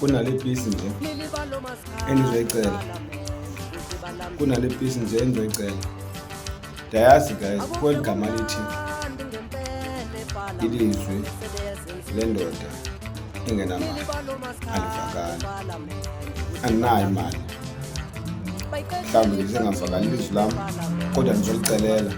kunale pisi nje endizoyicela kunale pisi nje endizoyicela ndayazi guys kweli gama lithi ilizwi lendoda engenamali andivakali andinayo imali mhlawumbi ndisengavakali ilizwi lam kodwa ndizolicelela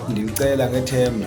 ndilicela ngethemba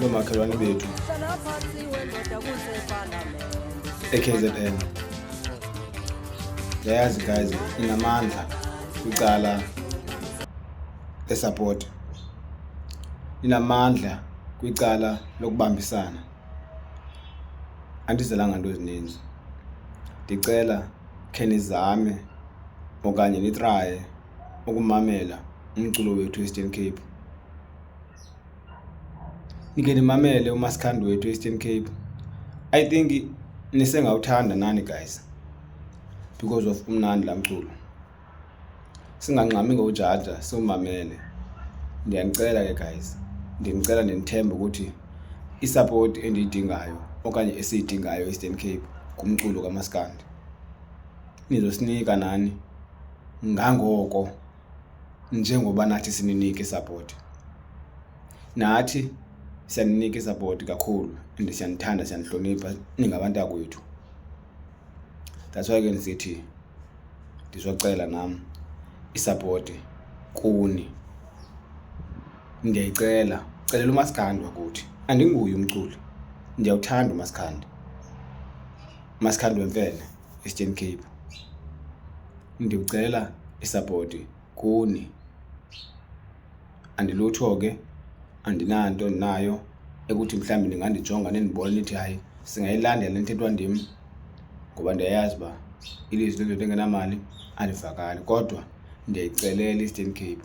noomakhelwane bethu eKZN yayazi guys inamandla kwicala lesupport inamandla kwicala lokubambisana andizelanga nto ezininzi ndicela khe nizame okanye nitraye ukumamela umculo wethu eastern cape Nike ndimamele uMasikhandi wethu Eastern Cape. I think nisengawuthanda nani guys because of umnandi la mculo. Singangxami ngojaja siwumamele. Ndiyanicela ke guys. Ndimcela ndinithembe ukuthi isupport endiyidingayo okanye esiyidingayo Eastern Cape kumculo kaMaskandi. Nizosinika nani ngangoko njengoba nathi sininike isapoti. Nathi siyaninika isapoti kakhulu and siyanithanda siyanihlonipha ningabantu akwethu. That's why ke ndisithi ndizocela nam isapoti kuni. Ndiyayicela, celela umasikandi wakuthi. Andinguye umculi, ndiyawuthanda umasikandi. Umasikandi wemfene, Eastern Cape. Ndicela isapoti kuni. Andilutho ke, andinanto ndinayo ekuthi mhlawumbi ndingandijonga nindibone nithi hayi singayilandela intetho ndim ngoba ndiyayazi uba ilizwi lendoda engenamali alivakali kodwa ndiyayicelela i-eastern cape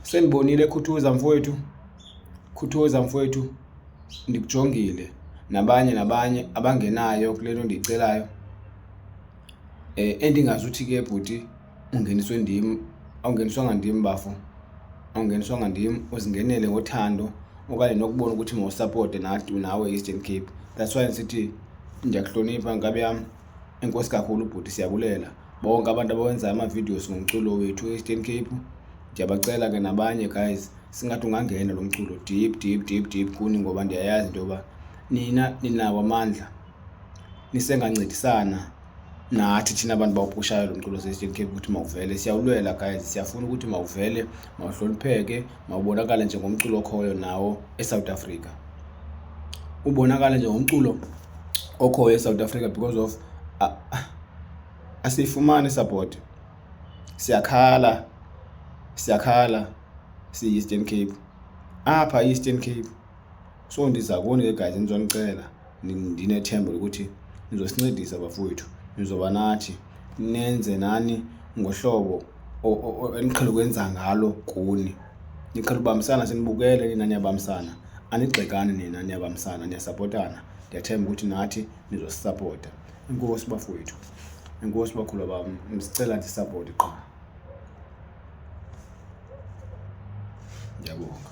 sendibonile khuthuza mfowethu khuthuza mfowethu ndikujongile nabanye nabanye abangenayo kule nto ndiyicelayo Eh, endingazuthi ke bhuti ungeniswe ndim, awungeniswanga ndim bafo, awungeniswanga ndim. Uzingenele ngothando okanye nokubona ukuthi mawusapote nathi nawe i-Eastern Cape. That's why ndisithi ndiyakuhlonipha nkabi yam, enkosi kakhulu bhuti, siyabulela. Bonke abantu abawenza ama-videos ngomculo wethu e-Eastern Cape, ndiyabacela ke nabanye guys, singathi ungangena lo mculo deep deep deep deep kuni ngoba ndiyayazi into yoba nina ninawo amandla. nisengancedisana nathi thina bantu bawupushayo lo mculo seStream Cape ukuthi mawuvele siyawulwela guys siyafuna ukuthi mawuvele mawuhlonipheke mawubonakale njengomculo okhoyo nawo eSouth Africa ubonakale njengomculo okhoyo eSouth Africa because of uh, asiyifumani support siyakhala siyakhala siyi-eastern cape apha i-eastern cape so ndiza kuni ke guys ndizonicela ndinethemba lokuthi nizosincedisa bafowethu nizoba nathi nenze nani ngohlobo eniqhele ukwenza ngalo kuni niqhele ubambisana sinibukele nina niyabambisana anigxekani nina niyabambisana niyasapotana ndiyathemba ukuthi nathi nizosisapota enkosi bafowethu enkosi bakhulu bam ndisicela ndisapoti qha ndiyabonga